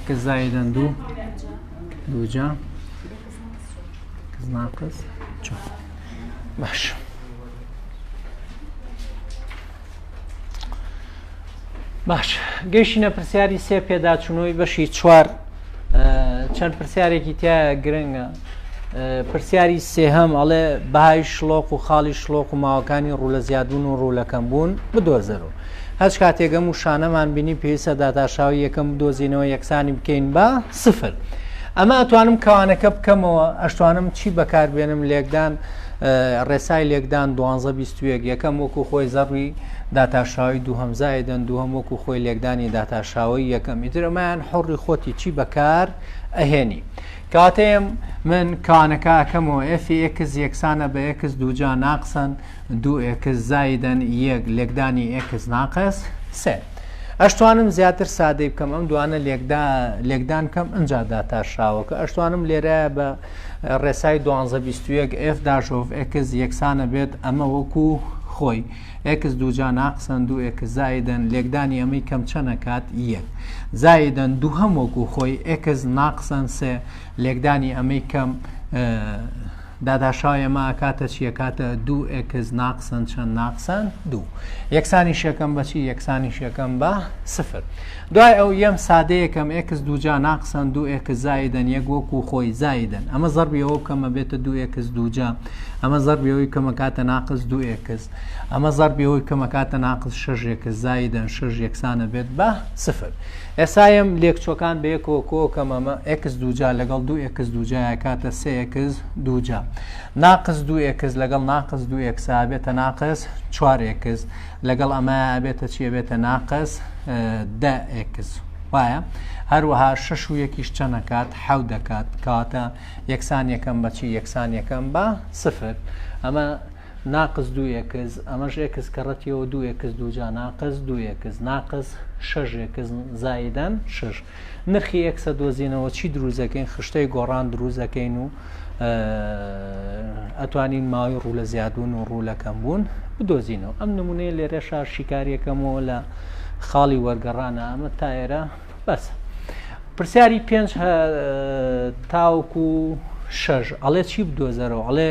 کە زایدە دوو دووجا ناقص چوار باش باش گەیشتینە پرسیاری سێ پێداچوونەوەی بەشی چوار چەند پرسیارێکی تیا گرنگە پرسیاری سێهەم ئەڵێ بەهای شڵۆق و خاڵی شڵۆق و ماوەکانی ڕوو لە زیادبوون و ڕوو لە کەمبوون بدۆزەرەوە هەچ کاتێک ئەم وشانەمان بینی پێویستە داتاشاوی یەکەم بدۆزینەوە یەکسانی بکەین بە سفر ئەمە ئەتوانم کەوانەکە بکەمەوە ئەشتوانم چی بەکاربێنم لێکدان ڕێسای لێکدان دوانزە بیستوێک یەکەم وەکو خۆی زەڕوی داتاشاوی دوو هەمزایدەن دوو هەم وەکو خۆی لێکدانی داتاشاوی یەکەم ئیترەمایان حڕی خۆتی چی بەکار ئەهێنی کاتێم من کانەکە ئەکەمەوە ئێفی ئێکس یەکسانە بە ئێکس دووجا ناقسەن دوو ئێکس زایدەن یەک لێکدانی ئێکس ناقس سێ ئەشتوانم زیاتر سادەی بکەم ئەم دوانە لێکدان کەم ئەجا داتا شاوەکە ئەشتوانم لێرە بە ڕێسای 1221 F داژۆڤ ئەکس یەکسانە بێت ئەمە وەکو خۆی ئێکس دووجا ناقسەن دوو ئێکس زائیدەن لێکدانی ئەمەی کەم چەند ئەکات یەک زائیدەن دووهەم وەکو خۆی ئێکس ناقسەن سێ لێکدانی ئەمەی کەم داداشاو ئێمە ئەکاتە چیەکاتە دوو ئێکس ناقسەن چەند ناقسەن دوو یەکسانی شەکەم بەچی یەکسانی شەکەم بە سفر دوای ئەو یەم سادە یەکەم ئێکس دووجا ناقسەن دوو ئێکس زائیدەن یەک وەکوو خۆی زائیدەن ئەمە زەڕبی ئەوە بکەم ئەبێتە دوو ئێکس دووجا ئەمە زەڕبی ئەوەی بکەم ئەکاتە ناقس دوو ئێکس ئەمە زەڕبی ئەوەی بکەم ئەکاتە ناقس شەش ئێکس زائیدەن شەش یەکسان ئەبێت بە سفر ئێستا یەم لێکچووەکان بە یەکەوە کۆ کەم ئەمە ئێکس دووجا لەگەڵ دوو ئێکس دووجا ئەکاتە سێ ئێکس دووجا ناقس دوو ئێکس لەگەڵ ناقس دوو ئێکسا بێتە ناقس چوار ئێکس لەگەڵ ئەمەیا ئەبێتە چی؟ ئەبێتە ناقس دە ئێکس وایە هەروەها شش و یەکیش چەند دەکات حەو دەکات کەواتە یەکسان یەکەم بەچی یەکسان یەکەم بە سفر ئەمە ناقز دو ئێکز ئەمەش ئێکس کەڕەتیەوە دو ئێکس دوجا ناقز دو ئێکز ناقز شەش ئێکز زایدەن شش نرخی ئێکسە دۆزینەوە چی دروست دەکەین خشتەی گۆڕان دروست دەکەین و ئەتوانین ماوەی ڕوو لە زیادبوون و ڕوو لە کەم بوون بدۆزینەوە ئەم نمونەیە لێرە شار شیکاریەکەمەوە لە خاڵی وەرگەڕانە ئەمە تا ئێرە بەس پرسیاری پێنج تاوکو شەژ ئەڵێ چی بدۆزەرەوە ئەڵێ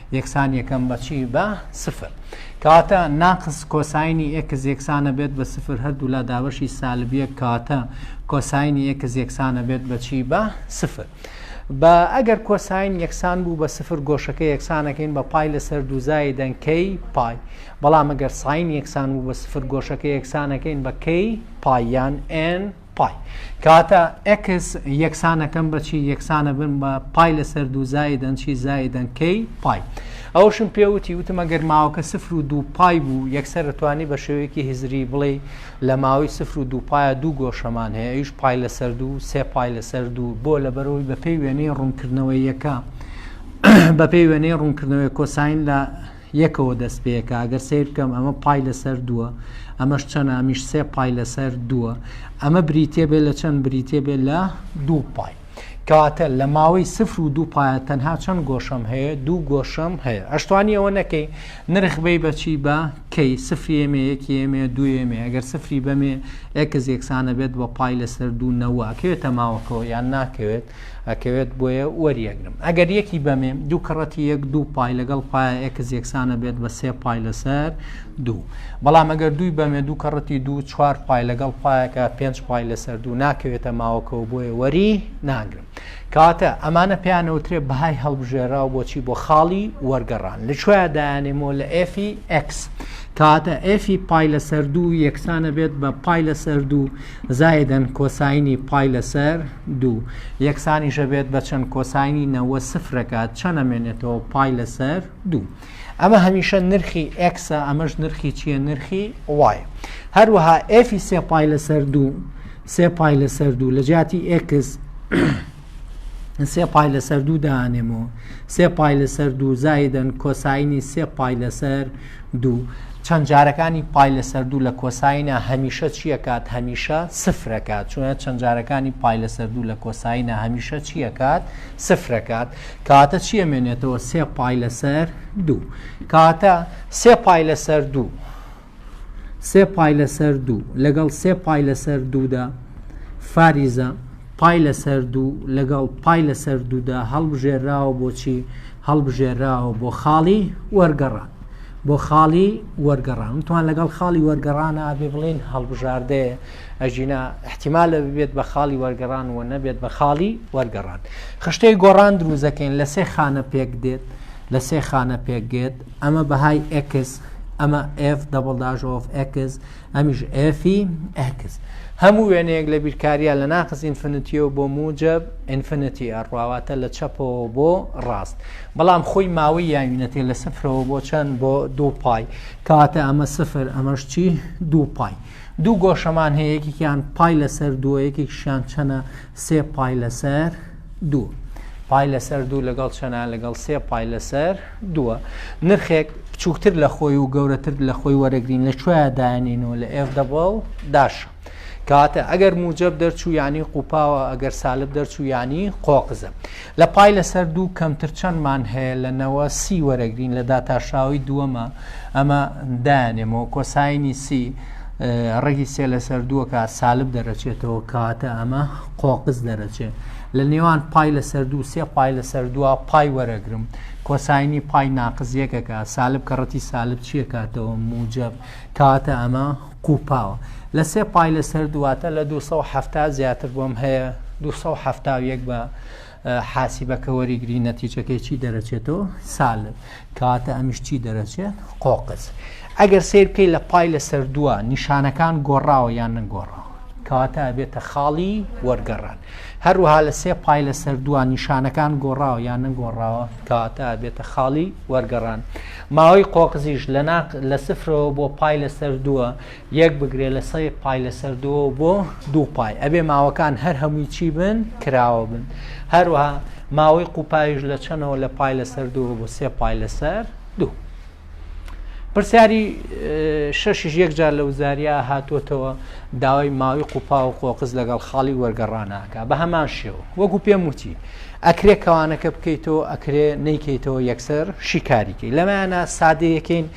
یەکسان یەکەم بە چی بە سفر کەواتە ناقس کۆساینی ئێکس یەکسانە بێت بە سفر هەردوو لا دابەشی سالبیە کاتە کۆساینی ئێکس یەکسانە بێت بە چی بە سفر. بە ئەگەر کۆساین یەکسان بوو بە سفر گۆشەکە یەکسانەکەین بە پای لەسەر دوزای دەنکەی پای بەڵام ئەگەر ساین یەکسان بوو بە سفر گۆشەکە یەکسانەکەین بەکەی پایان N پای. کەواتە ئێکس یەکسانەکەم بە چی یەکسانە بن بە پای لەسەر دوو زایدەن چی زایدەن کەی پای ئەوشم پێوتی وتمە گەر ماوەکە سفر و دوو پای بوو یەکسەرتوانی بە شێوەیەکی هزری بڵێ لە ماوەی سفر و دوو پایە دوو گۆشەمان هەیە ئەوش پای لەسەر دوو سێ پای لەسەر دوو بۆ لە بەرەوەی بەپێی وێنەی ڕوونکردنەوەی یەکە بەپێی وێنەی ڕوونکردنەوەی کۆساین لە یەکەوە دەست پێکا ئەگەر سەیر بکەم ئەمە پای لەسەر دووە ئەمەش چەنە ئەمیش سێ پای لەسەر دووە ئەمە بریتێ بێ لە چەند بریتێ بێ لە دوو پای کەواتە لە ماوەی سفر و دوو پایە تەنها چەند گۆشەم هەیە دوو گۆشەم هەیە ئەشتوانی ئەوە نەکەی نرخ بی بەچی بە کەی سفری ئێمێ یەکی ئێمێ دوێمێ ئەگەر سفری بەمێ ئەکز یەکسانە بێت بە پای لەسەر دوو نەوە کەوێتە ماوەکەەوە یان ناکەوێت ئەکەوێت بۆیە وەریەگرم ئەگەر یەکی بەمێم دوو کڕەتی یەک دوو پای لەگەڵ پایە ئێکس یەکسانە بێت بە سێ پای لەسەر دوو بەڵام ئەگەر دووی بەمێ دوو کڕەتی دوو چوار پای لەگەڵ پایەکە پێنج پای لەسەر دوو ناکەوێتە ماوەکەەوە بۆیە وەری ناگرم کاتە ئەمانە پێیانەوترێ بەهای هەڵبژێراو بۆچی بۆ خاڵی وەرگەڕان لە کوێ دایانێمۆ لە ئفی ئەکس کاتە ئفی پای لەسەر دوو یەکسانە بێت بە پای لەسەر دوو زائیدە کۆساینی پای لەسەر دوو یەکسانیش ئەبێت بە چەند کۆساینی نەوە سفرەکە چەند ئەمێنێتەوە پای لەسەر دوو ئەمە هەمیشە نرخی ئەکسە ئەمەش نرخی چییە نرخی وایە هەروەها ئێفی سێ پای لەسەر دوو سێ پای لەسەر دوو لە جیاتی ئێکس سێ پای لەسەر دوو دانێم و سێ پای لەسەر دوو زایدن کۆسایینی سێ پای لەسەر دوو چەند جارەکانی پای لەسەر دوو لە کۆسایینە هەمیشە چیەکات هەمیشە سفرەکات چونە چەند جارەکانی پای لەسەر دوو لە کۆسایینە هەمیشە چیەکات سفرەکات کاتە چیە مێنێتەوە سێ پای لەسەر دوو کاتە سێ پای لەسەر دوو سێ پای لەسەر دوو لەگەڵ سێ پای لەسەر دوودا فاریزە پای لەسەر دوو لەگەڵ پای لەسەر دوودا هەڵبژێراوە بۆچی هەڵبژێراوە بۆ خاڵی وەرگەڕان بۆ خاڵی وەرگەڕان توان لەگەڵ خاڵی وەرگەڕانە ئابێ بڵێن هەڵبژاردەیە ئەژینا احتیمالە ببێت بە خاڵی وەرگەڕان و نەبێت بە خاڵی وەرگەڕان خشتەی گۆڕان دروزەکەین لە سێ خانە پێک دێت لە سێ خانە پێکگێت ئەمە بەهای ئێکس ئەمە ئف دەبڵ داژ ئۆف ئێکس ئەمیش ئفی ئێکس هەموو وێنەیەک لە بیرکاریە لە ناقز ئینفنتیەوە بۆ موجب ئینفنتی ئەڕواواتە لە چەپەوە بۆ ڕاست بەڵام خۆی ماوەی یاوینەتێ لە سفرەوە بۆ چەند بۆ دوو پای کاتە ئەمە سفر ئەمەش چی دوو پای دوو گۆشەمان هەیە یەکێکیان پای لەسەر دووە یەکێکشیان چەنە سێ پای لەسەر دوو. پای لەسەر دوو لەگەڵ چەنە لەگەڵ سێ پای لەسەر دووە نرخێک بچووکتر لە خۆی و گەورەتر لە خۆی وەرەگرین لە کوێە داێنین و لە ئێف دەبڵ داش کاتە ئەگەر موجب دەرچوو ینی قوپاوە ئەگەر سالب دەرچوو ینی قۆقزە لە پای لەسەر دوو کەمتر چەندمان هەیە لە نەوە سی وەرەگرین لە داتاشاوی دووەمە ئەمە دانێمەوە کۆسایانی سی ڕێگی سێ لەسەر دووەکە سالب دەرەچێتەوە کاتە ئەمە قۆقز دەرەچێت لە نێوان پای لەسەر دوو سێ پای لەسەر دووە پای وەرەگرم کۆسایانی پای ناقز یەکەکە سالب کە ڕەتی سالب چیە کاتەوە موجب کاتە ئەمە قوپاوە لە سێ پای لەسەر دواتە لە 270 زیاتر بۆم هەیە 270 بە حاسیبەکە وەریگری نەتیجەکەی چی دەرەچێتەوە سالب کاتە ئەمیش چی دەرەچێت قۆقز ئەگەر سیر بکەی لە پای لەسەر دووە نیشانەکان گۆڕاوە یان نەگۆڕاوە کەواتە ئەبێتە خاڵی وەرگەڕان هەروها لە سێ پای لە سەردووان نیشانەکان گۆڕاوە یان نەگۆڕاوە کەواتە ئەبێتە خاڵی وەرگەڕان ماوەی قۆقزیش لە ناق لە سفرەوە بۆ پای لە سەردووە یەک بگرێ لە سەی پای لەسەر دووە و بۆ دوو پای ئەبێ ماوەکان هەر هەمووی چی بن کراوە بن هەروەها ماوەی قوپایش لە چەنەوە لە پای لەسەر دووە بۆ سێ پای لەسەر دوو پرسیاری شەشیش یەکجار لە وزاریا هاتووەتەوە داوای ماوەی قوپا و قۆقز لەگەڵ خاڵی وەرگەڕاناکە بە هەمان شێوە وەکو پێم وتی ئەکرێ کەوانەکە بکەیتەوە ئەکرێ نەیکەیتەوە یەکسەر شیکاریکەی لەمایانە سادەیەکەین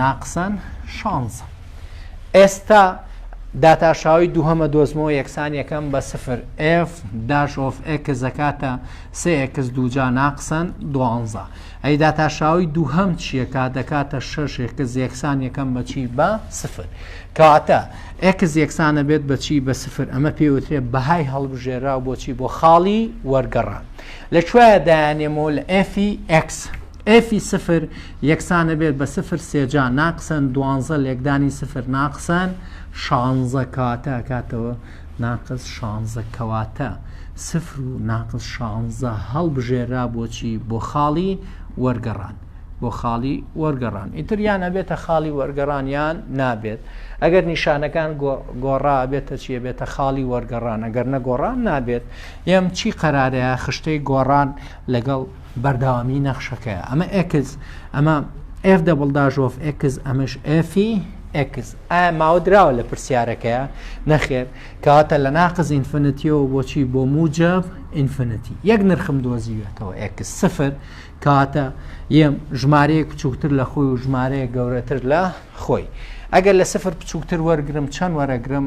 ناقسەن شانزە ئێستا داتاشاوی دووهەمە دۆزمەوە یەکسان یەکەم بە سفر F داش of X زەکاتە سێ X دووجا ناقسەن دوانزە ئەی داتاشاوی دووهەم چیەکە دەکاتە شش X یەکسان یەکەم بەچی بە سفر کەواتە X یەکسانە بێت بەچی بە سفر ئەمە پێوترێت بەهای هەڵبژێرا بۆچی بۆ خاڵی وەرگەڕان لە کوێە دایانێمەوە لە F X ئێفی سفر یەکسانە بێت بە سفر سێجا ناقسەن دوانزە لێکدانی سفر ناقسەن شانزە کەواتە ئەکاتەوە ناقس شانزە کەواتە سفر و ناقس شانزە هەڵبژێرا بۆچی بۆ خاڵی وەرگەڕان بۆ خاڵی وەرگەڕان ئیتر یان ئەبێتە خاڵی وەرگەڕان یان نابێت ئەگەر نیشانەکان گۆڕا بێتە چیە بێتە خاڵی وەرگەڕان ئەگەر نەگۆڕان نابێت یەم چی قەرارەیە خشتەی گۆڕان لەگەڵ بەردەوامی نەخشەکەیە ئەمە ئێکس ئەمە ئف دەبڵ داژۆف ئێکس ئەمەش ئەفی ئێکس ئایا ماوە دراوە لە پرسیارەکەیە نەخێر کەواتە لە ناقز ئینفنتیەوە بۆچی بۆ موجب ئینفنتی یەک نرخم دۆزیوێتەوە ئێکس سفر کاتە یەم ژمارەیەک بچووکتر لە خۆی و ژمارەیە گەورەتر لە خۆی ئەگەر لە سفر بچووکتر وەرگرم چەند وەرەگرم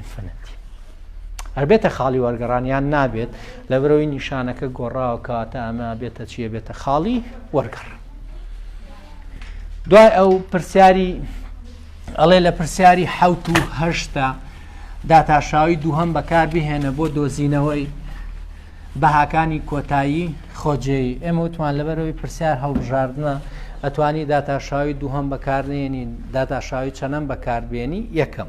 Infinity. هەر بێتە خاڵی وەرگەڕان یان نابێت لە برەوەی نیشانەکە گۆڕاوە کاتە ئەمە بێتە چیە بێتە خاڵی وەرگەڕ دوای ئەو پرسیاری ئەڵێ لە پرسیاری حوت و هەشتا داتاشاوی دووهم بەکار بهێنە بۆ دۆزینەوەی بەهاکانی کۆتایی خۆجێی ئێمە وتمان لەبەرەوەی پرسیار هەڵبژاردنە ئەتوانی داتاشاوی دووهم بەکارنێنین داتاشاوی چەنەم بەکاربیێنی یەکەم.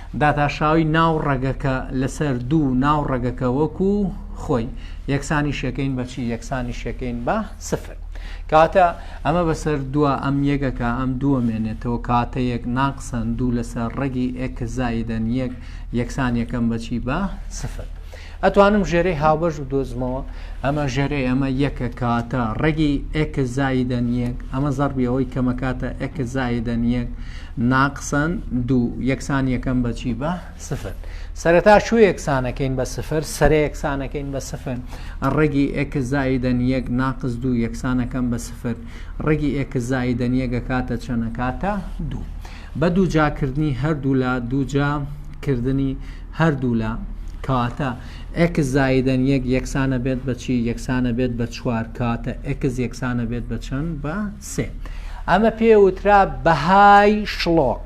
داتاشاوی ناو ڕەگەکە لەسەر دوو ناو ڕەگەکە وەکو خۆی یەکسانی شەکەین بەچی یەکسانی شەکەین بە سفر کاتە ئەمە بەسەر دووە ئەم یەکەکە ئەم دووە مێنێتەوە کاتە یەک ناقسەن دوو لەسەر ڕەگی ئێکزایدەن یەک یەکسان یەکەم بەچی بە سفر ئەتوانم ژێرەی هاوبەش بدۆزمەوە. ئەمە ژێرەی ئەمە یەکە کاتە ڕەگی ئێکس زایدەن یەک، ئەمە زەڕبی ئەوەی کەمە کاتە ئێکس زایدەن یەک ناقسەن دوو، یەکسانییەکەم بە چی؟ بە سفر. سەرەتا چوو یەکسانەکەین بە سفر، سەرە یەکسانەکەین بە سفر، ڕەگی ئێکس زایدەن یەک ناقس دوو یەکسانەکەم بە سفر، ڕەگی ئێکس زایدەن یەک ئەکاتە چەند؟ ئەکاتە دوو. بە دووجاکردنی هەردوولا دووجا کردنی هەردوولا، کاتە، ئێکس زائیدەن یەک یەکسانە بێت بە چی؟ یەکسانە بێت بە چوار، کاتە، ئێکس یەکسانە بێت بە چەند؟ بە سێ. ئەمە پێ وترا بەهای شڵۆق.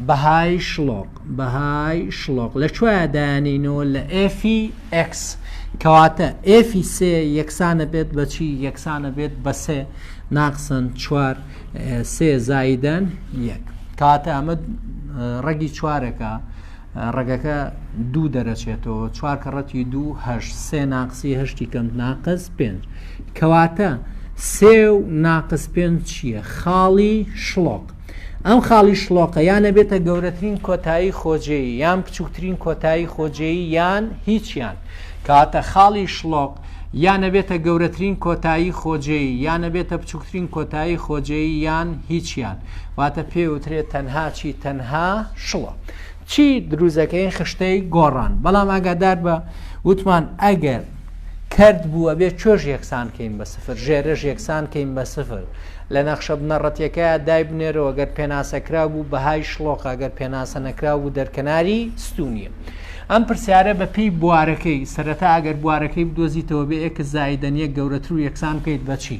بەهای شڵۆق. بەهای شڵۆق. لە کوێ دایانینەوە؟ لە ئێفی ئێکس. کەواتە، ئێفی سێ یەکسانە بێت بە چی؟ یەکسانە بێت بە سێ، ناقسەن چوار، سێ زائیدەن یەک. کاتە، ئەمە ڕەگی چوارەکە. ڕەگەکە دوو دەرەچێتەوە چوار کەڕەتی دوو هەش سێ ناقسی هەشتی کەم ناقس پێنج کەواتە سێ و ناقس پێنج چییە خاڵی شڵۆق ئەم خاڵی شڵۆقە یانە بێتە گەورەترین کۆتایی خۆجێی یان بچووکترین کۆتایی خۆجێی یان هیچیان کاتە خاڵی شڵۆق یانە بێتە گەورەترین کۆتایی خۆجێی یانە بێتە بچووکترین کۆتایی خۆجێی یان هیچیان واتە پێوترێت تەنها چی تەنها شڵۆق چی دروزەکەی خشتەی گۆڕان بەڵام ئاگادار بە وتمان ئەگەر کرد بوو ئەبێ چۆش یەکسان کەین بە سفر ژێرەش یەکسان کەین بە سفر لە نەخشە بنەڕەتەکە دای بنێرەوە گەر پێناسەکرا بوو بەهای شلۆقە گەر پێناسە نەکرا بوو دەرکەناری ستونیە ئەم پرسیارە بە پێی بوارەکەی سەرەتا ئەگەر بوارەکەی بدۆزیتەوە بێ ئێکس زایدەن یەک گەورەتر و یەکسان بکەیت بەچی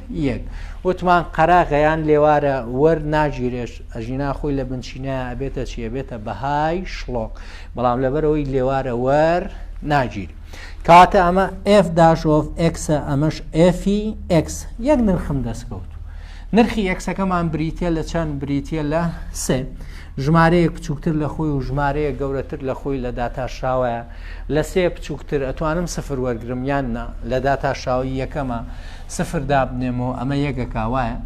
یەک وتمان قەراغەیان لێوارە وەر ناگیرێش ئەژینا خۆی لە بنچینە ئەبێتە چی ئەبێتە بەهای شڵۆک بەڵام لەبەرەوەی لێوارە وەر ناگیر کاتە ئەمە F داشۆف ئەکسە ئەمەش ئەفی X یەک نرخم دەستکەوت نرخی ئەکسەکەمان بریتە لە چەند بریتە لە سێ ژمارەیە بچووکتر لە خۆی و ژمارەیە گەورەتر لە خۆی لە داتاشراوەیە لە سێ بچووکتر ئەتوانم سفر وەرگرم یان نا لە داتاشاوی یەکەمە سفر دابنێمەوە ئەمە یەکەکە وایە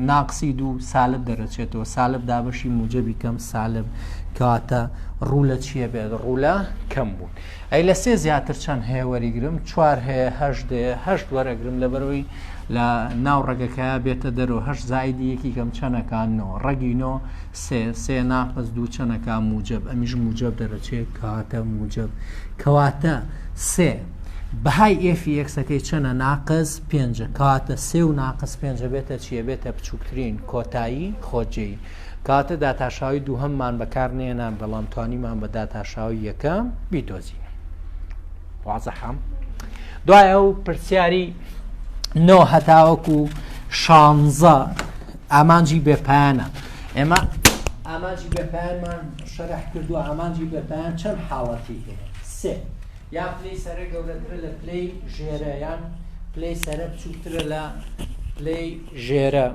ناقسی دوو سالب دەرەچێتەوە سالب دابەشی موجەبی کەم سالب کاتە ڕوولە چیە بێت ڕوولە کەم بوون ئەی لە سێ زیاتر چەند هەیە وەریگرم چوار هەیە هەشت هەشت وەرەگرم لەبەرەوەی لە ناو ڕەگەکە بێتە دەرەوە هەش زایدی یەکی کەم چەنەکانەوە ڕەگینۆ سێ سێ ناقز دوو چەنەکە موجب ئەمیش موجب دەرەچێت کاتە موجب کەواتە سێ بەهای ئێفی ئێکسەکەی چەنە ناقس پێنجە کاتە سێ و ناقس پێنجە بێتە چیە بێتە بچووکترین کۆتایی خۆجێی کاتە داتاشاوی دووهەممان بەکار نێنان بەڵام توانیمان بە داتاشاوی یەکەم بیدۆزین وازەحەم دوای ئەو پرسیاری نۆ هەتاوەک و شانزە ئامانجی بێپیانە ئێمە ئامانجی بێپیانمان شەرح کردو ئامانجی بێپیان چەند حاڵەتی هەیە سێ یان پلەی سەرە گەورەترە لە پلەی ژێرە یان پلەی سەرە بچووکترە لە پلەی ژێرە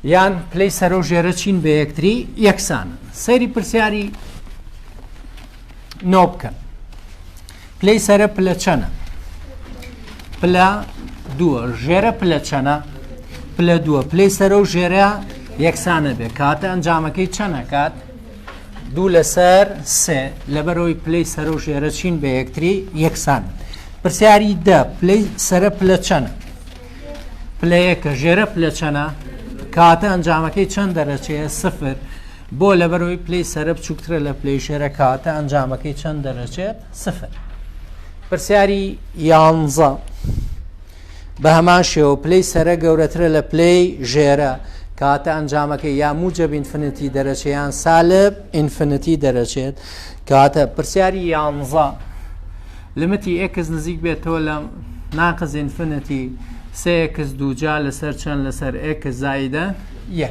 یان پلەی سەرە و ژێرە چین بە یەکتری یەکسان سەیری پرسیاری نۆ بکەن پلەی سەرە پلە چەنە پلە دووە ژێرە پلە چەنە پلە دووە پلەی سەرە و ژێرە یەکسانە بێ کاتە ئەنجامەکەی چەنەکات دوو لەسەر سێ لەبەرەوەی پلەی سەرە و ژێرە چین بە یەکتری یەکسان پرسیاری دە پلەی سەرە پلە چەنە پلەیەکە ژێرە پلە چەنە کاتە ئەنجامەکەی چەند دەرەچەیە سفر بۆ لەبەرەوەی پلەی سەرە بچووکترە لە پلەی ژێرە کەواتە ئەنجامەکەی چەند دەرەچێت سفر پرسیاری یانزە بە هەمان شێوە پلەی سەرە گەورەترە لە پلەی ژێرە کاتە ئەنجامەکە یا موجب ئینفنتی دەرەچەیان سالب ئینفنتی دەرەچێت کاتە پرسیاری یانزە لمتی ئکس نزیک بێتەوە لە ناقز ئینفنتی سێکس دووجا لەسەر چەند لەسەر ئکس زایدە یە.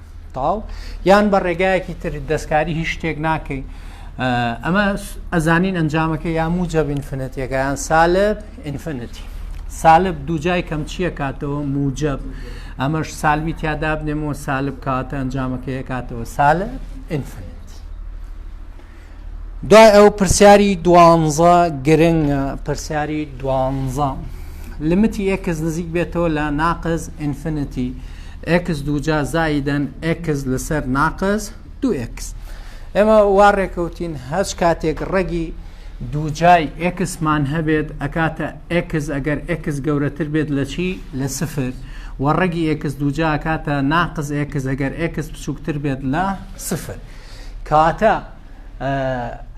تاو یان بە ڕێگایەکی تر دەستکاری هیچ شتێک ناکەین ئەمە ئەزانین ئەنجامەکە یا موجە بینفنەتەکەیان سالب ئینفنتی سالب دووجای کەم چییە کاتەوە موجب ئەمەش سالوی تیادابنێمەوە سالب کاتە ئەنجامەکەی کاتەوە سالب ئینفنت دوای ئەو پرسیاری دوانزە گرنگە پرسیاری دوانزە لمتی ئێکس نزیک بێتەوە لە ناقز ئینفینیتی ئێکس دووجا زایدەن ئێکس لەسەر ناقز دو ئێکس ئێمە وا ڕێکەوتین هەچ کاتێک ڕەگی دووجای ئێکسمان هەبێت ئەکاتە ئێکس ئەگەر ئێکس گەورەتر بێت لە چی لە سفر و ڕەگی ئێکس دووجا ئەکاتە ناقز ئێکس ئەگەر ئێکس بچووکتر بێت لە سفر. کاتا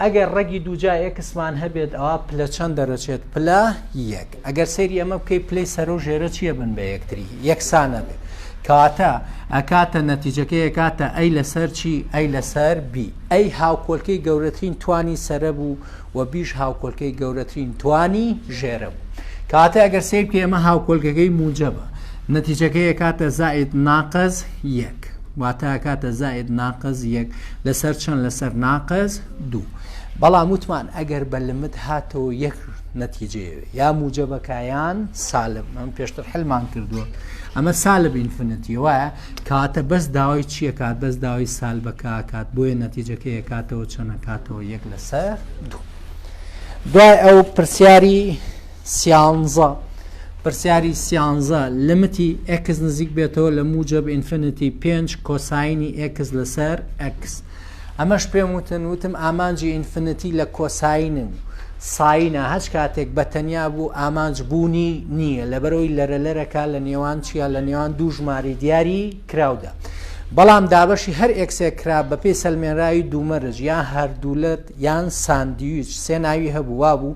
ئەگەر ڕەگی دووجا ئێکسمان هەبێت ئەوە پلە چەند دەرەچێت پلا یەک ئەگەر سەیری ئەمە بکەیت پلی سەر و ژێرە چیە بن بە یەکتری یەکسانە بێت کاتە ئەکاتە نەتیجەکەی کاتە ئەی لەسەر چی ئەی لەسەر بی ئەی هاوکۆلکەی گەورەترین توانی سرە بوو و بیش هاوکۆلکەی گەورەترین توانی ژێرە بوو کاتە ئەگەر سیر کە ئێمە هاوکۆلگەکەی موجەبە نەتیجەکەی کاتە زائید ناقز یەک واتە ئەکاتە زائید ناقس یەک لەسەر چەند لەسەر ناقس دوو بەڵام وتمان ئەگەر بە لمت هاتەوە یەک نەتیجەیەوێ یا موجەبەکایان سالب من پێشتر حلمان کردووە ئەمە سالب ئینفنەتی وایە کاتە بەس داوای چیە کات بەس داوای سالبەکە کات بۆیە نەتیجەکەی کاتەوە چەنە کاتەوە یەک لەسەر دوو دوای ئەو پرسیاری سیانزە، پرسیاری سیانزە، لیمیتی ئێکس نزیک بێتەوە لە موجەب ئینفینیتی پێنج کۆساینی ئێکس لەسەر ئێکس. ئەمەش پێم وتن، وتم ئامانجی ئینفینیتی لە کۆساین و ساینە، هەچ کاتێک بە تەنیا بوو ئامانج بوونی نییە، لەبەرئەوەی لەرەلەرەکە لە نێوان چییە؟ لە نێوان دوو ژمارەی دیاری کراودا. بەڵام دابەشی هەر ئێکسێک کرا بەپێی سەلمێنراوی دوومەرج، یان هەردوولەت یان ساندویچ سێ ناوی هەبوو، وابوو،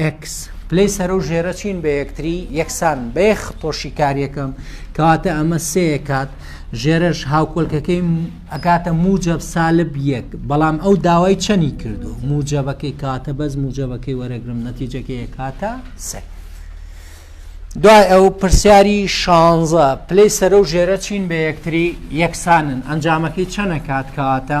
ئێکس، پلەی سەرەو ژێرە چین بە یەکتری یەکسان بە یەک خطۆ شیکاریەکەم کەواتە ئەمە سێ ئەکات ژێرەش هاوکۆلکەکەی ئەکاتە موجب سالب یەک بەڵام ئەو داوای چەنی کردو موجبەکەی کاتە بەس موجبەکەی وەرەگرم نەتیجەکەی ئەکاتە سێ دوای ئەو پرسیاری شانزە پلەی سەرە و ژێرە چین بە یەکتری یەکسانن ئەنجامەکەی چەنە کات کەواتە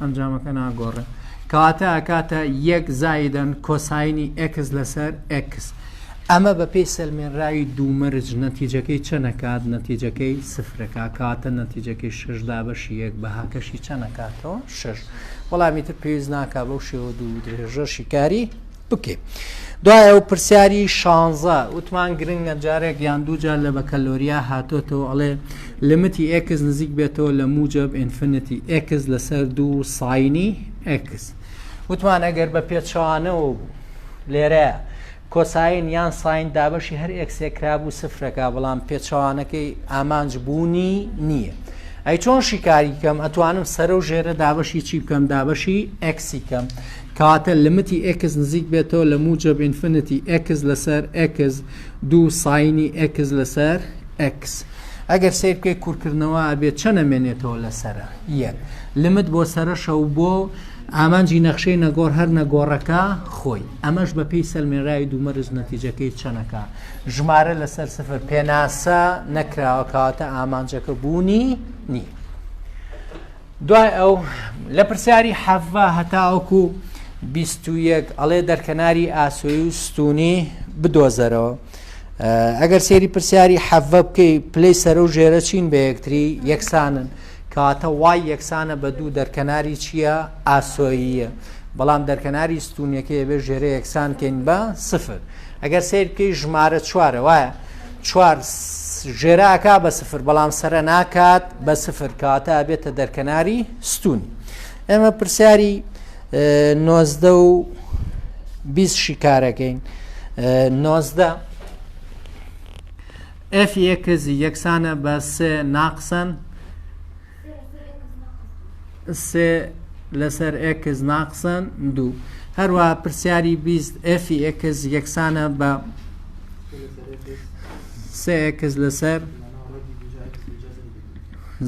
ئەنجامەکە ناگۆڕێ کەواتە ئەکاتە یەک زایدەن کۆساینی ئەکس لەسەر ئەکس ئەمە بە پێی سەلمێنراوی دوومەرج نەتیجەکەی چەنەکات نەتیجەکەی سفرەکە کاتە نەتیجەکەی ششدا بەشی یەک بەهاکەشی چەنەکاتەوە شش وەڵامی تر پێویست ناکە بەو شێوە دوو درێژە شیکاری بکەین دوای ئەو پرسیاری شانزە وتمان گرنگە جارێک یان دوو جار لە بەکەلۆریا هاتۆتەوە ئەڵێ لمتی ئکس نزیک بێتەوە لە موجب ئینفنتی ئکس لەسەر دوو ساینی ئکس وتمان ئەگەر بە پێچەوانەوە بوو لێرە کۆساین یان ساین دابەشی هەر ئەکسێکرا بوو سفرەکە بەڵام پێچەوانەکەی ئامانج بوونی نییە. ئەی چۆن شیکاری کەم ئەتوانم سەرە و ژێرە دابەشی چی بکەم دابەشی ئەکسی کەم کاتێ لیمیتی ئێکس نزیک بێتەوە لە موجەب ئینفینیتی ئێکس لەسەر ئێکس دوو ساینی ئێکس لەسەر ئێکس ئەگەر سیر بکەی کورکردنەوە ئەبێ چەند ئەمێنێتەوە لەسرە یەک لمت بۆ سەرەشە و بۆ ئامانجی نەخشەی نەگۆڕ هەر نەگۆڕەکە خۆی ئەمەش بە پێی سەلمێراوی دوومەرز نەتیجەکەی چەنەکە ژمارە لەسەر سفر پێناسە نەکراوە کەواتە ئامانجەکە بوونی نییە دوای ئەو لە پرسیاری حەڤە هەتاوەکو بیست و یەک ئەڵێ دەرکەناری ئاسۆی و ستونی بدۆزەرەوە ئەگەر سێری پرسیاری حەڤە بکەی پلەی سەرە و ژێرە چین بە یەکتری یەکسانن کاتە وای یەکسانە بە دوو دەرکەناری چییە ئاسۆییە بەڵام دەرکەناری ستونیەکەی بێ ژێرە یەکسانکەین بە سفر ئەگەر سیر بکەی ژمارە چوارە وایە چوار ژێرە ئەکا بە سفر بەڵام سەرە ناکات بە سفر کاتە ئەبێتە دەرکەناری ستونی ئێمە پرسیاری نۆزدە و بیست شیکارەکەین نۆزدە ئەف یەکەزی یەکسانە بە سێ ناقسەن سێ لەسەر ئێکس ناقسەن دوو هەروە پرسیاری بیست ئەفی ئێکس یەکسانە بە سێ ئێکس لەسەر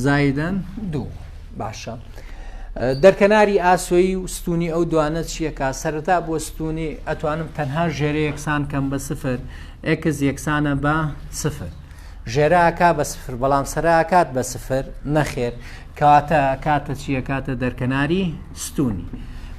زایدەن دوو باشە دەرکەناری ئاسۆیی و ستونی ئەو دوانە چیەکە سەرەتا بۆ ستونی ئەتوانم تەنها ژێرە یەکسان کەم بە سفر ئەکس یەکسانە بە سفر. ژێرە ئەکا بە سفر بەڵام سەرە ئەکات بە سفر نەخێر کەواتە کاتە چییە کاتە دەرکەناری ستونی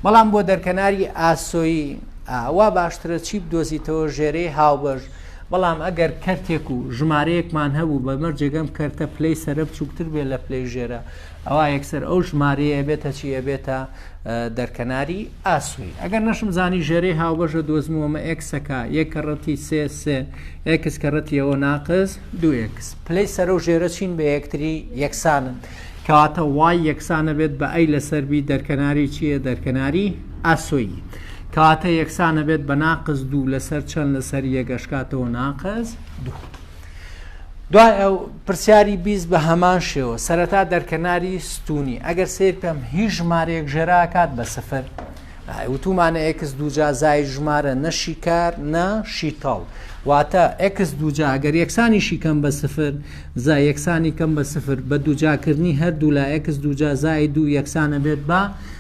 بەڵام بۆ دەرکەناری ئاسۆیی ئاوا باشترە چی بدۆزیتەوە ژێرەی هاوبەش بەڵام ئەگەر کەرتێک و ژمارەیەکمان هەبوو بە مەرجێگەم کەرتە پلەی سرە بچووکتر بێ لە پلەی ژێرە ئەوە یەکسەر ئەو ژمارەیە بێتە چیە بێتە دەرکەناری ئاسووی. ئەگەر نەشم زانی ژێرەی هاوبەشە دۆزمەوە مە ئێکسەکە یەک کەڕەتی سێ سێ ئێکس کەڕەتی ئەوە ناقس دوو ئێکس پلەی سەرە و ژێرە چین بە یەکتری یەکسانن کەواتە وای یەکسانە بێت بە ئەی لەسەر بی دەرکەناری چییە دەرکەناری ئاسۆیی کەواتە یەکسانە بێت بە ناقس دوو لەسەر چەند لەسەر یەگەشکاتەوە ناقس دوو. دوای ئەو پرسیاری بیست بە هەمان شێوە سەرەتا دەرکەناری ستونی ئەگەر سیر کەم هیچ ژمارەیەک ژێراکات بە سفر وتومانە ئکس دوجا زای ژمارە نەشی کار نە شیتەڵ واتە ئکس دوجا ئەگەر یەکسانی شیکەم بە سفر زای یەکسانی کەم بە سفر بە دوجاکردنی هەردوو لا ئکس دوجا زای دوو یەکسانە بێت بە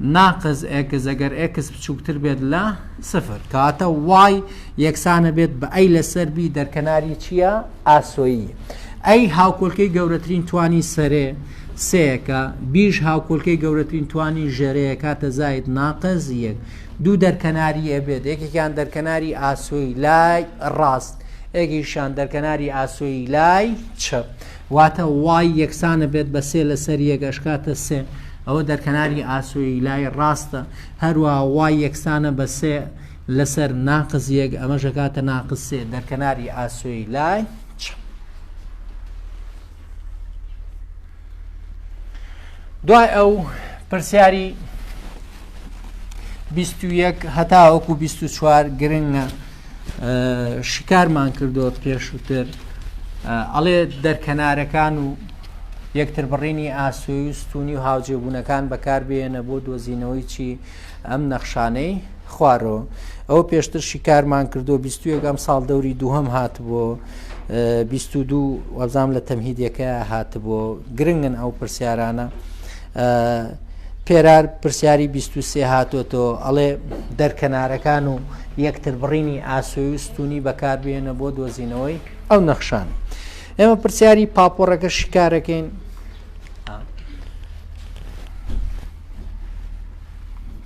ناقس ئێکس ئەگەر ئێکس بچووکتر بێت لە سفر کەواتە وای یەکسانە بێت بە ئەی لەسەر بی دەرکەناری چییە ئاسۆیی ئەی هاوکۆلکەی گەورەترین توانی سەرێ سەیەکە بیش هاوکۆلکەی گەورەترین توانی ژێرەیە کاتە زاید ناقز یەک دوو دەرکەناری ئەبێت یەکێکیان دەرکەناری ئاسۆی لای ڕاست ئێگیشان دەرکەناری ئاسۆی لای چەپ واتە وای یەکسانە بێت بە سێ لەسەر یەگەشکاتە سێ ئەوە دەرکەناری ئاسۆیی لای ڕاستە، هەروا وای یەکسانە بە سێ لەسەر ناقس یەک، ئەمەش ئەکاتە ناقس سێ، دەرکەناری ئاسۆیی لای چەپ. دوای ئەو پرسیاری بیست و یەک هەتاوەکو بیست و چوار گرنگە شکارمان کردووە پێشووتر ئەڵێ دەرکەنارەکان و یەکتربڕینی ئاسۆی و ستونی و هاوجێبوونەکان بەکاربیێنە بۆ دۆزینەوەی چی ئەم نەخشانەی خوارەوە ئەو پێشتر شیکارمان کردو بیستوەگەم ساڵ دەوری دووهم هاتبوو دوو وەزام لە تەمهیدەکە هاتبوو گرنگن ئەو پرسیارانە پێرار پرسیاری بیست و سێ هاتۆتۆ ئەڵێ دەرکەنارەکان و یەکتربڕینی ئاسۆی و ستونی بەکاربیێنە بۆ دۆزینەوەی ئەو نەخشان ئێمە پرسیاری پاپۆڕەکە شیکارەکەین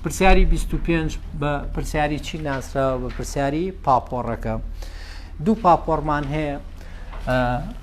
پرسیاری 25 بە پرسیاری چی ناسراوە بە پرسیاری پاپۆڕەکە دوو پاپۆڕمان هەیە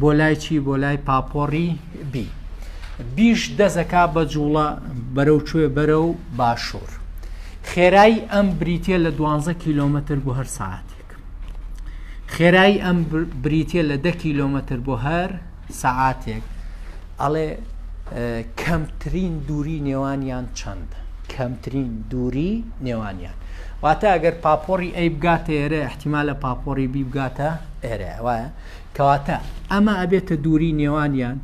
بۆ لای چی بۆ لای پاپۆڕی بی بیش دەزەکا بە جوڵە بەرەو کوێ بەرە و باشوور خێرایی ئەم بریتە لە 12 کیلومتر بۆ هەر ساعتێک خێرایی ئەم بریتە لە ده کیلومتر بۆ هەر سەعاتێک ئەڵێ کەمترین دووری نێوانیان چەند کەمترین دووری نێوانیان واتە ئەگەر پاپۆڕی ئەی بگاتە ئێرە احتیمالە پاپۆڕی بی بگاتە ئێرە وایە کەواتە ئەمە ئەبێتە دووری نێوانیان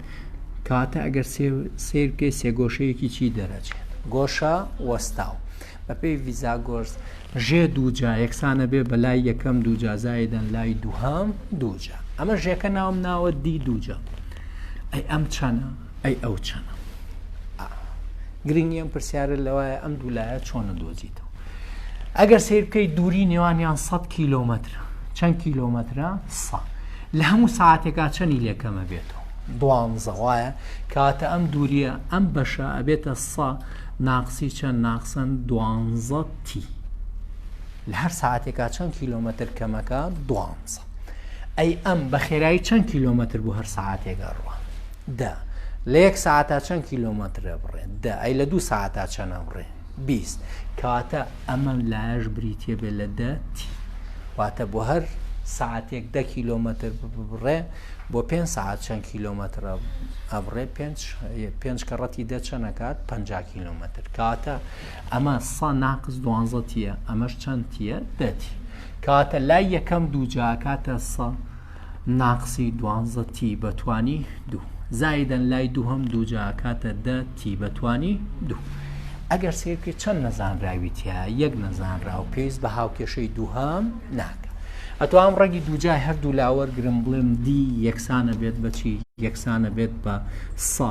کەواتە ئەگەر سیرکەی سێگۆشەیەکی چی دەرەچێت گۆشە وەستاو بەپێی ویزا گۆرس ژێ دووجا یەکسانە بێ بە لای یەکەم دووجا زایدەن لای دووهام دووجا ئەمە ژێکە ناوم ناوە دی دووجا ئەی ئەم چەنە ئەی ئەو چەنە؟ گرنگی ئەم پرسیارە لەوایە ئەم دوو لایە چۆنە دۆزیتەوە ئەگەر سیر بکەیت دووری نێوانیان 100 کیلومتر چەند کیلومترە سە لە هەموو ساعتێکا چەنی لێکەمە بێتەوە دوانزەوایە کاتە ئەم دووریە ئەم بەشە ئەبێتە سە ناقسی چەند ناقسەن دوانزە تی لە هەر ساعتێکا چەند کیلومتر کەمەکە دوانزە ئەی ئەم بەخێرایی چەند کیلۆمەتر بۆ هەر سعاتێک ئەڕوە دە لە یەک ساعتا چەند کیلۆمەترە بڕێ دە ئەی لە دوو ساعتا چەنە بڕێ بیست کەواتە ئەمە لایەش بریتە بێ لە دە تی واتە بۆ هەر ساعتێک دە کیلۆمەتر بڕێ بۆ پێ ساعت چەند کیلۆمەترە ئەبڕێ پێ کەڕەتی دەچەنەکات پ کیلومتر کاتە ئەمە سە ناقس دوانزە تیە ئەمەش چەند تیە دە تی کاتە لای یەکەم دوو جاکاتە سە ناقسی دوانزە تی بەتوانی دوو زایدەن لای دووهم دوو جاکاتە دە تی بەتوانی دوو ئەگەر سیرکە چەند نەزانراویتە یەک نەزانرا و پێویست بە هاوکێشەی دووهام ناکە ئەتوام ڕەگی دووجای هەردوو لاوەرگرم بڵێم دی یەکسانە بێت بەچی یەکسانە بێت بە سە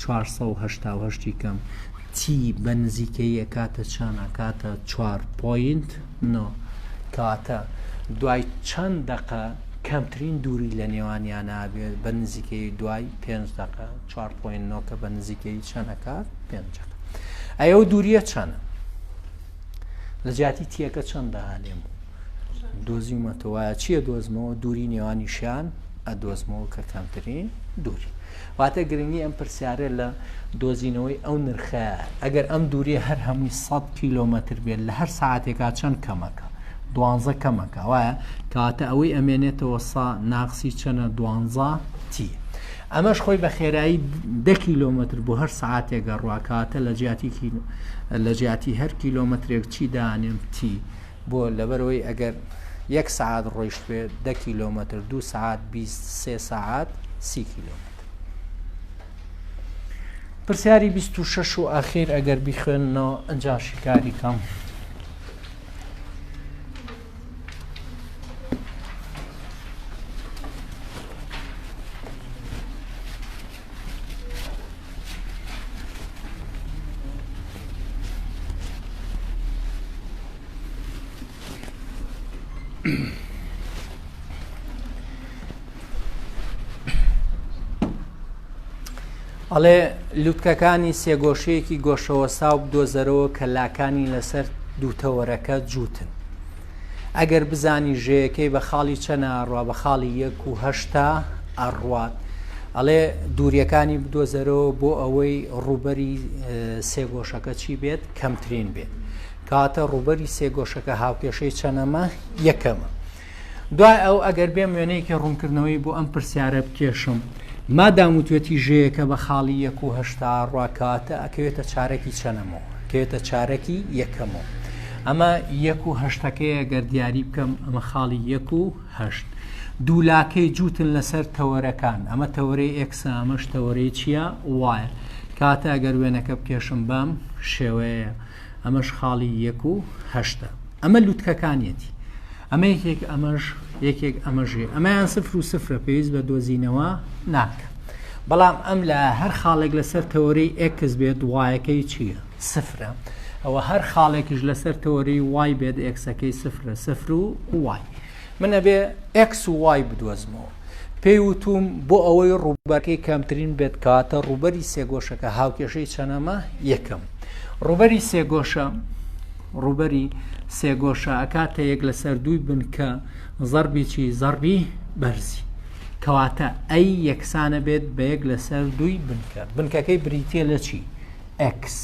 چوار سەد و هەشتا و هەشت ی کەم تی بە نزیکەیی ئەکاتە چەند ئەکاتە چوار پۆینت نۆ کەواتە دوای چەند دەقە کەمترین دووری لە نێوانیان ئابێت بە نزیکەی دوای پێنج دەقە چوار پۆینت نۆ کە بە نزیکەی چەند ئەکات پێنج ئەی ئەو دووریە چەند لە جیاتی تیەکە چەندە هەلێم دۆزیمەتەوە چییە دۆزمەوە دووری نێوانی شان ئەدۆزمەوە کە کەمترین دووری واتە گرنگی ئەم پرسیارە لە دۆزینەوەی ئەو نرخەیە ئەگەر ئەم دووریە هەر هەمووی سەد کیلۆمەتر بێت لە هەر ساعتێکا چەند کەمەکە دوانزە کەمەکە وایە کەواتە ئەوەی ئەمێنێتەوە سا ناقسی چەنە دوانزە تی ئەمەش خۆی بە خێرایی ده کیلۆمەتر بۆ هەر ساعتێکە ڕواکاتە لە جیاتیکی لە جیاتی هەر کیلۆمەترێک چی دانێم تی بۆ؟ لەبەرئەوەی ئەگەر یەک سەعات ڕۆیشتبێت دە کیلۆمەتر، دوو سەعات بیست، سێ سەعات سی کیلۆمەتر. پرسیاری بیست و شەش و ئاخیر ئەگەر بیخوێننەوە ئەنجا شیکاری کەم. ئەڵێ لووتکەکانی سێگۆشەیەکی گۆشەوە ساو بدۆزەرەوە کە لاکانی لەسەر دووتەوەرەکە جووتن ئەگەر بزانی ژێیەکەی بە خاڵی چەنە ئەڕوا بە خاڵی یەک و هەشتا ئەڕوات ئەڵێ دووریەکانی بدۆزەرەوە بۆ ئەوەی ڕوبەری سێگۆشەکە چی بێت کەمترین بێت کاتە ڕوبەری سێگۆشەکە هاوکێشەی چەنەمە یەکەمە دوای ئەو ئەگەر بێم وێنەیەکی ڕوونکردنەوەی بۆ ئەم پرسیارە بکێشم مادام وتێتی ژەیەکە بە خاڵی یەک و هەشتا ڕاکاتە ئەکەوێتە چارەکی چەنەمەوە کەێتە چارەکی یەکەمەوە ئەمە یەک و هەشتەکەیە گەر دیاری بکەم ئەمە خاڵی یەک و هەشت دوولاکەی جووتن لەسەر تەوەرەکان ئەمە تەوەرەی ئەکسە ئەمەش تەوەرەی چییە وایە کاتە ئەگەر وێنەکە بکێشم بەم شێوەیە ئەمەش خاڵی یەک و هەشتە ئەمە لوتکەکانیەتی ئەمە یەکێک ئەمەش یەکێک ئەمەژێ ئەمەیان سفر و سفرە پێویست بە دۆزینەوە ناکە بەڵام ئەم لە هەر خاڵێک لەسەر تەوەرەی ئەکس بێت وایەکەی چییە سفرە ئەوە هەر خاڵێکیش لەسەر تۆری وای بێت ئێکسەکەی سفرە سفر و وای من ئەبێ ئێکس و وای بدۆزمەوە پێی وتوم بۆ ئەوەی ڕووبەرەکەی کەمترین بێت کاتە ڕووبەری سێگۆشەکە هاوکێشەی چەنەمە یەکەم ڕووبەری سێگۆشە ڕووبەری سێگۆشە ئەکاتە یەک لەسەر دووی بنکە زەربی چی زەربی بەرزی کەواتە ئەی یەکسانە بێت بە یەک لەسەر دووی بنکە بنکەکەی بریتە لە چی ئێکس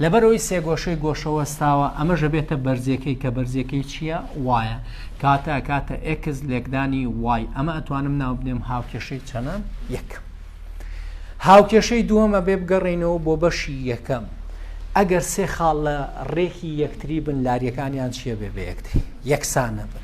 لەبەرەوەی سێگۆشەی گۆشە وەستاوە ئەمەش ئەبێتە بەرزیەکەی کە بەرزیەکەی چییە وایە کاتە کاتە ئێکس لێکدانی وای ئەمە ئەتوانم ناوبنێم هاوکێشەی چەنە یەک هاوکێشەی دووەمە بێ بگەڕینەوە بۆ بەشی یەکەم ئەگەر سێ خاڵ لە ڕێکی یەکتری بن لاریەکانیان چیە بێ بە یەکتری یەکسانە بن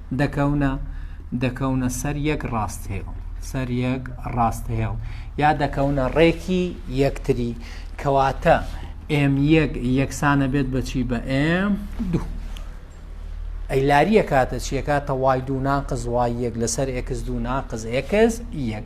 دەکەونە، دەکەونە سەر یەک ڕاستهێڵ، سەر یەک ڕاستهێڵ، یا دەکەونە ڕێکی یەکتری، کەواتە ئێم یەک یەکسانە بێت بەچی بە ئێم دوو. ئەی لاریە کاتە چیەکە تەوای دوو ناقز وای یەک لەسەر ئێکس دوو ناقز ئێکس یەک.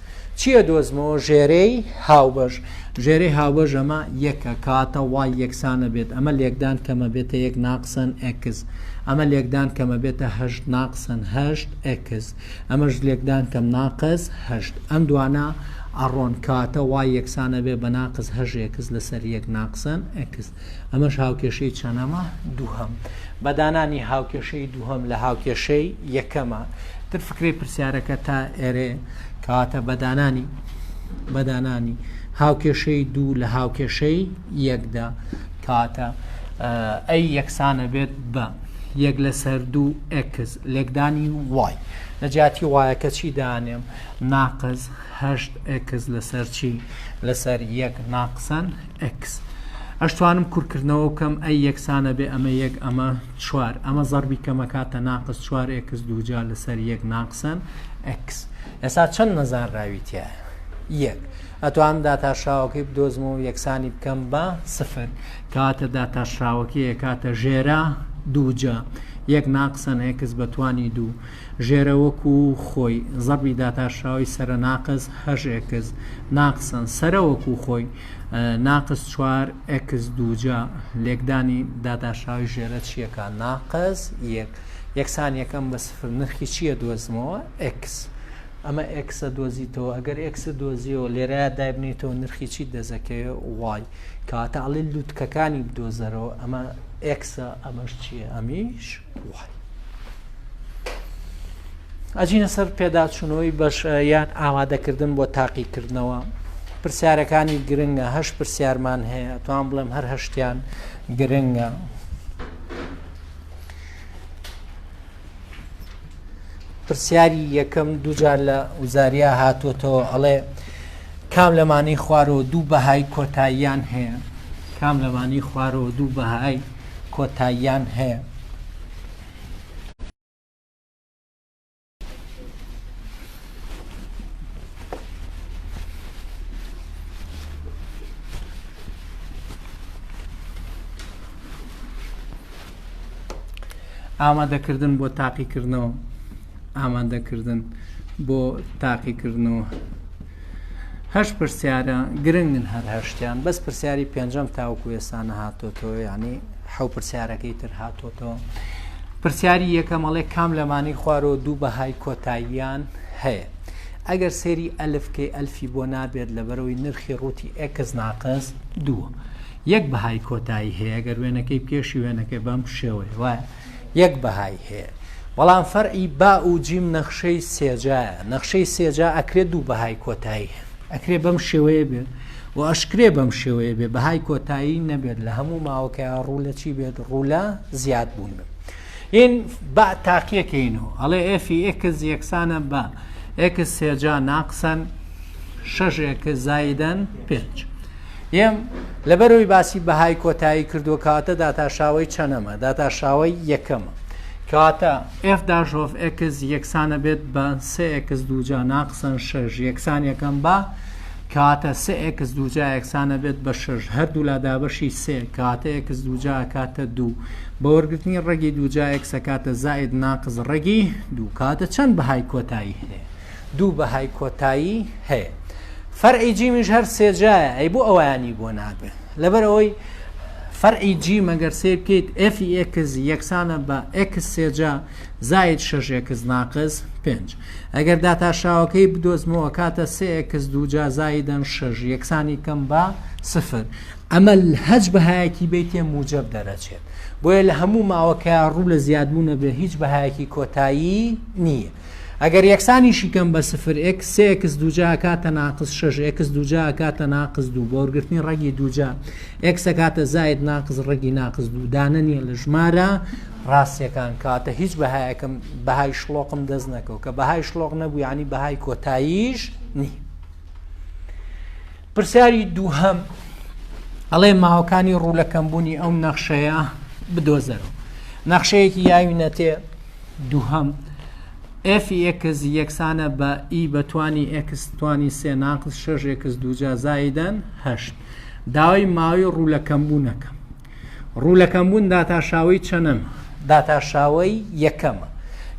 چیە دۆزمەوە ژێرێی هاوبەش. ژێرەی هاوبەش ئەمە یەکە کاتە وای یەکسانە بێت ئەمە لێکدان کەمە بێتە یەک ناقسەن ئێکس ئەمە لێکدان کەمە بێتە هەشت ناقسەن هەشت ئێکس ئەمەش لێکدان کەم ناقس هەشت ئەم دوانە ئەڕۆن کاتە وای یەکسانە بێ بە ناقس هەژ ئێکس لەسەر یەک ناقسەن ئێکس ئەمەش هاوکێشەی چەنەمە دووهەم بە دانانی هاوکێشەی دووهەم لە هاوکێشەی یەکەمە تر فکری پرسیارەکە تا ئێرێ کاتە بەدانانی بەدانانی هاوکێشەی دوو لە هاوکێشەی یەکدا کاتە ئەی یەکسانە بێت بە یەک لەسەر دوو ئەکس لێکدانی وای لە جیاتی وایەکە چی دانێم ناقز هەشت ئەکس لەسەر چی لەسەر یەک ناقسەن ئێکس ئەشتوانم کور کردنەوە بکەم ئەی یەکسانە بێ ئەمە یەک ئەمە چوار ئەمە زەڕبی کەمەکاتە ناقس چوار ئێکس دووجا لەسەر یەک ناقسەن ئەکس ئێسا چەند نەزان راوی تایە یەک ئەتوانم داتاشراوەکەی بدۆزم و یەکسانی بکەم بە سفر کاتە داتاشراوەکەی کاتە ژێرا دووجا یەک ناقسەن ئێکس بەتوانی دوو ژێرە وەکو خۆی زەبی داتاشراوی سەرە ناقز هەژێکز ناقسەن سەرە وەکو خۆی ناقس چوار ئێکس دووجا لێکدانی داداشاوی ژێرە چیەکە ناقس یەک یەکسان یەکەم بە سفر نرخی چییە دۆزمەوە ئێکس ئەمە ئێکسە دۆزیتەوە ئەگەر ئێکسە دۆزیەوە لێرە دابنیتەوە نرخی چی دەزەکەی وای کاتە ئەڵی لووتکەکانی بدۆزەرەوە ئەمە ئێکسە ئەمەش چییە ئەمیش وای. ئەجینە سەر پێداچوونەوەی بەش یان ئامادەکردن بۆ تاقیکردنەوە پرسیارەکانی گرنگە هەش پرسیارمان هەیە توان بڵێم هەر هەشتیان گرنگە. پرسیاری یەکەم دوجار لە وزاریا هاتوتەوە ئەڵێ کام لەمانی خوارەوە دوو بەهای کۆتاییان هەیە کام لەمانی خوارەوە دوو بەهای کۆتاییان هەیە. ئامادەکردن بۆ تاقیکردنەوە ئامادەکردن بۆ تاقیکردنەوە هەشت پرسیارە گرنگن هەر هەشتیان بەس پرسیاری پێنجەم تاوکو ئێسانە هاتۆتەوە ینی حەو پرسیارەکەی تر هاتۆتەوە پرسیاری یەکەمەڵێ کام لەمانی خوارەوە دوو بەهای کۆتاییان هەیە ئەگەر سێری ئەلفکەی ئەلفی بۆ نابێت لەبەرەوەی نرخی ڕووتی ئەکس ناقس دووە یەک بەهای کۆتایی هەیە گەر وێنەکەی پێشی وێنەکەی بەم شێوەیە وایە یەک بەهای هەیە بەڵام فەرعی با و جیم نەخشەی سێجایە نەخشەی سێجا ئەکرێ دوو بەهای کۆتایی هەن ئەکرێ بەم شێوەیە بێت و ئەشکرێ بەم شێوەیە بێ بەهای کۆتایی نەبێت لە هەموو ماوەکەی ڕوو لە چی بێت ڕوولە زیاد بوون بێت این با تاقیەکەینەوە ئەڵێ ئفی ئکس یەکسانە بە ئکس سێجا ناقسەن شەش ئکس زایدەن پێنج یەم، لەبەرئەوەی باسی بەهای کۆتایی کردووە کەواتە داتاشاوەی چەنەمە؟ داتاشاوەی یەکەمە. کەواتە ئێف داش ئۆف ئێکس یەکسانە بێت بە سێ ئێکس دووجا ناقسەن شەش یەکسان یەکەم بە کەواتە سێ ئێکس دووجا یەکسانە بێت بە شەش هەردوولا دابەشی سێ کەواتە ئێکس دووجا کاتە دوو بە وەرگرتنی ڕێگی دووجا ئێکسە کاتە زائید ناقز ڕێگی دوو کاتە چەند بەهای کۆتایی هەیە دوو بەهای کۆتایی هەیە. فەرعی جیمیش هەر سێ جایە ئەی بۆ ئەویانی بۆ ناگرن لەبەر ئەوەی فەرعی جی مەگەر سێ بکەیت ئێفی ئێکس یەکسانە بە ئێکس سێجا زاید شەش ئێکس ناقز پێنج ئەگەر داتاشاوەکەی بدۆزمەوە کاتە سێ ئێکس دووجا زایدەن شەش یەکسانی کەم بە سفر ئەمە هەج بەهایەکی بیتێ موجب دەرەچێت بۆیە لە هەموو ماوەکە ڕوو لە زیادبوونە بێ هیچ بەهایەکی کۆتایی نییە. ئەگەر یەکسانیشی کەم بە سفر ئێکس سێ ئێکس دووجا ئەکاتە ناقس شەش ئێکس دووجا ئەکاتە ناقس دوو بە وەرگرتنی ڕەگی دووجا ئێکس ئەکاتە زائید ناقس ڕەگی ناقس دوو دانە نییە لە ژمارە ڕاستیەکان کاتە هیچ بەهایەکەم بەهای شڵۆقم دەست نەکەو کە بەهای شڵۆق نەبوو ینی بەهای کۆتاییش نی پرسیاری دووهەم ئەڵێ ماوەکانی ڕوو لەکەمبوونی ئەو نەخشەیە بدۆزەرەوە نەخشەیەکی یاوی نەتێ دووهەم، ئێفی ئێکس یەکسانە بە ئی بە توانی ئێکس توانی سێ ناقس شەش ئێکس دووجا زایدەن هەشت. داوای ماوەی ڕوولەکەمبوونەکە. ڕوولەکەمبوون داتاشاوەی چەنەم؟ داتاشاوەی یەکەمە.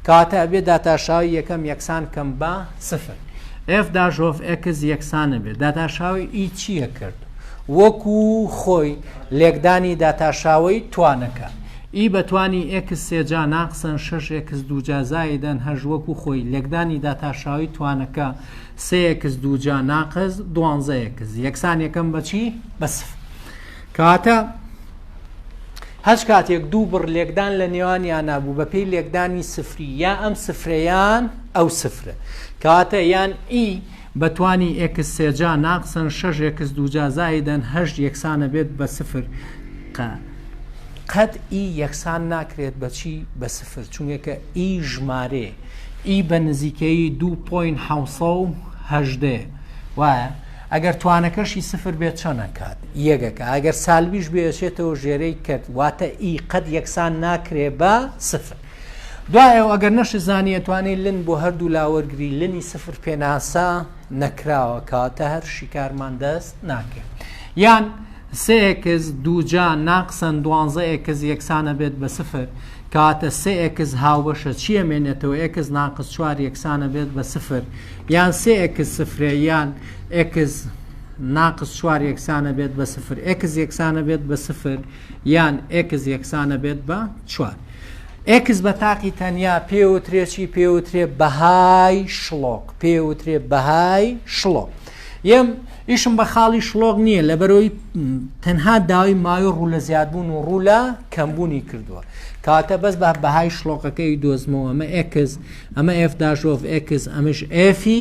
کەواتە ئەبێ داتاشاوەی یەکەم یەکسان کەم بە سفر. ئێف داش ئۆف ئێکس یەکسانە بێ. داتاشاوەی ئی چییە کرد؟ وەکوو خۆی، لێکدانی داتاشاوەی توانەکە. ی بە توانی ئێکس سێ جا ناقسەن شەش ئێکس دوو جا زائیدەن هەشت وەکو خۆی، لێکدانی داتاشاوی توانەکە سێ ئێکس دوو جا ناقس دوانزە ئێکس یەکسان یەکەم بە چی؟ بە سفر. کەواتە هەچ کاتێک دوو بڕ لێکدان لە نێوانیانا بوو بە پێی لێکدانی سفری یا ئەم سفرە یان ئەو سفرە کەواتە یان ئی بە توانی ئێکس سێجا ناقسەن شەش ئێکس دووجا زائیدەن هەشت یەکسان ئەبێت بە سفر قە قەت ئی یەکسان ناکرێت بە چی بە سفر چونگەکە ئی ژمارێ ئی بە نزیکەیی دوو پۆین حەوت سەد و هەژدە وایە ئەگەر توانەکەشی سفر بێت چەن ئەکات یەگەکە ئەگەر سالبیش بێ ئەچێتەوە ژێرەی کەت واتە ئی قەت یەکسان ناکرێ بە سفر دوایە و ئەگەر نەشزانی ئەتوانی لن بۆ هەردوو لا وەرگری لنی سفر پێناسە نەکراوە کەواتە هەر شیکارمان دەست ناکەی یان سێ ئێکس دووجا ناقسەن دوانزە ئێکس یەکسانە بێت بە سفر کەواتە سێ ئێکس هاوبەشە چیە مێنێتەوە ئێکس ناقس چوار یەکسانە بێت بە سفر یان سێ ئێکس سفرێ یان ئێکس ناقس چوار یەکسانە بێت بە سفر ئێکس یەکسانە بێت بە سفر یان ئێکس یەکسانە بێت بە چوار. ئێکس بە تاقی تەنیا پێوترێ چی پێوترێ بەهای شڵۆق پێوترێ بەهای شڵۆق یەم ئیشم بە خاڵی شڵۆق نییە لە بەرەوەی تەنها داوای ماوی ڕوو لە زیادبوون و ڕوو لە کەمبوونی کردووە کاتە بەس بە بەهای شڵۆقەکەی دۆزمەوە ئەمە ئێکس ئەمە ئێفداژۆڤ ئێکس ئەمش ئێفی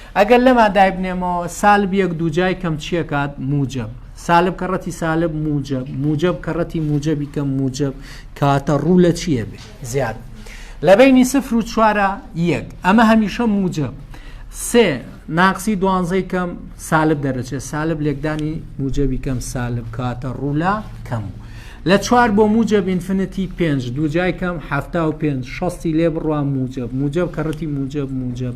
ئەگەر لەما دایبنێمەوە، سالب یەک دووجای کەم چیە کات؟ موجەب. سالب کەڕەتی سالب موجەب. موجەب کەڕەتی موجەبی کەم موجەب. کاتە ڕوو لە چیە بێ؟ زیاد. لە بینی سفر و چوارە یەک. ئەمە هەمیشە موجەب. سێ ناقسی دوانزەی کەم سالب دەرەچێت. سالب لێکدانی موجەبی کەم سالب کاتە ڕوو لە کەم و. لە چوار بۆ موجەب ئینفنتی پێنج دووجای کەم حەفتا و پێنج شەستی لێ بڕوا موجەب. موجەب کەڕەتی موجەب موجەب.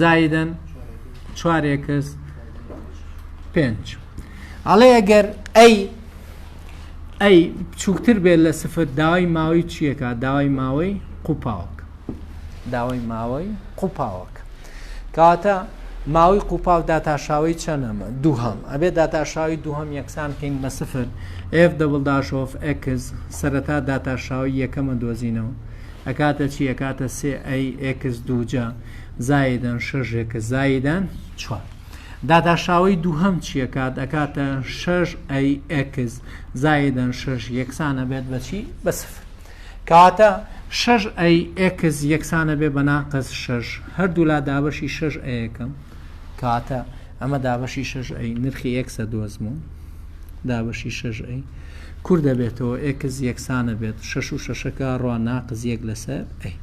زایدەن چوارێکس پێنج ئەڵێ ئەگەر ئەی ئەی بچووکتر بێت لە سفر داوای ماوەی چیەکە داوای ماوەی قوپاوک داوای ماوەی قوپاوک کاتە ماوەی قوپاو داتاشاوی چەنەمە دووهم ئەبێ داتاشاوی دووهم یەکسان کەین بە سفر ئف دەبڵ داشۆف ئەکس سەرەتا داتاشاوی یەکەمە دۆزینەوە ئەکاتە چی ئەکاتە سێ ئەی ئەکس دووجە زایدەن شەش ئێکس زایدەن چوار داداشاوەی دووهەم چییە کات ئەکاتە شەش ئەی ئێکس زایدەن شەش یەکسانە بێت بەچی بە سفر کەواتە شەش ئەی ئێکس یەکسانە بێ بە ناقەس شەش هەردوولا دابەشی شەش ئەیەکەم کاتە ئەمە دابەشی شەش ئەی نرخی ئێکسە دۆزموون دابەشی شەش ئەی کور دەبێتەوە ئێکس یەکسانە بێت شەش و شەشەکە ڕوا ناقز یەک لەسەر ئەی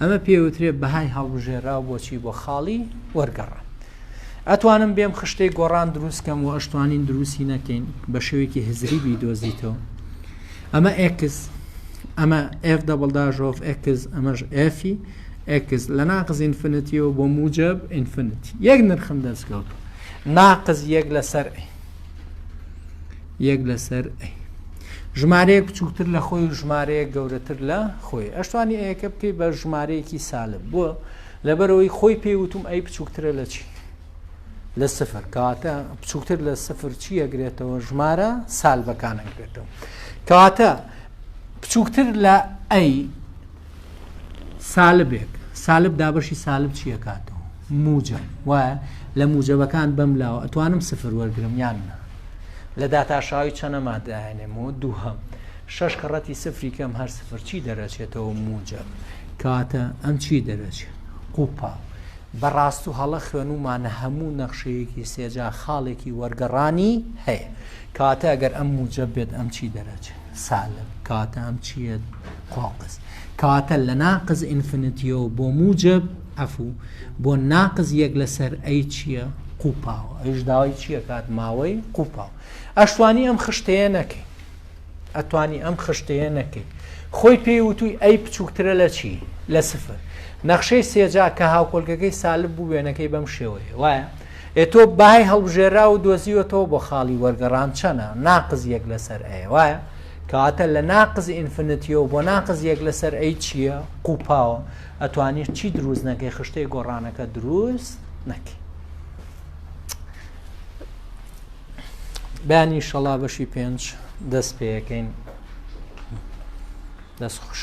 ئەمە پێوترێ بەهای هەڵبژێراو بۆچی بۆ خاڵی وەرگەڕان ئەتوانم بێم خشتەی گۆڕان دروستکەم و ئەشتوانین دروستی نەکەین بە شێوێکی هزری بی دۆزیتەوە ئەمە ئێکس ئەمە F دەبڵداژۆف ئێکس ئەمەش ئەفی ئێکس لە ناقز ئینفنتیەوە بۆ موجب ئینفنت یەک نرخم دەستکەوت ناقز یەک لەسەر ئەی یەک لەسەر ئەی ژمارەیە بچووکتر لە خۆی و ژمارەیە گەورەتر لە خۆی ئەشتوانی ئەیەکە بکەی بە ژمارەیەکی سالب بووە لەبەرەوەی خۆی پێی وتم ئەی بچووکترە لە چی لە سفر کاتە بچووکتر لە سفر چی ئەگرێتەوە ژمارە سالبەکان ئەگرێتەوە کاتە بچووکتر لە ئەی سالبێک، سالب دابەشی سالب چی ئەکاتەوە؟ موجەب وایە؟ لە موجەبەکان بەم لاوە ئەتوانم سفر وەرگرم یان نا؟ لە داتاشاوی چەنە مادایەنێمەوە دووهەم شەش کەڕەتی سفری کەم هەر سفر چی دەرەچێتەوە موجەب کاتە ئەم چی دەرەچێت قوپا بەڕاست و هەڵە خوێنومانە هەموو نەخشەیەکی سێجا خاڵێکی وەرگەڕانی هەیە کاتە ئەگەر ئەم موجە بێت ئەم چی دەرەچێت سالب کاتە ئەم چیە قاقز کەواتە لە ناقز ئینفنتیەوە بۆ موجب عەفوو بۆ ناقز یەک لەسەر ئەی چییە قوپاوە ئەیش داوای چییە کات ماوەی قوپاو ئەشتوانی ئەم خشتەیە نەکەی ئەتوانی ئەم خشتەیە نەکەی خۆی پێی وتووی ئەی بچووکترە لە چی لە سفر نەخشەی سێجا کە هاوکۆلگەکەی سالب بوو وێنەکەی بەم شێوەیە وایە ئێ تۆ بای هەڵبژێرا و دۆزیوەتەوە بۆ خاڵی وەرگەڕان چەنە ناقز یەک لەسەر ئەیە وایە کەواتە لە ناقز ئینفنتیەوە بۆ ناقز یەک لەسەر ئەی چییە قوپاوە ئەتوانیت چی دروست نەکەی خشتەی گۆڕانەکە دروست نەکەی بەیانی شەڵا بەشی پێنج دەست پێەکەین دەست خوش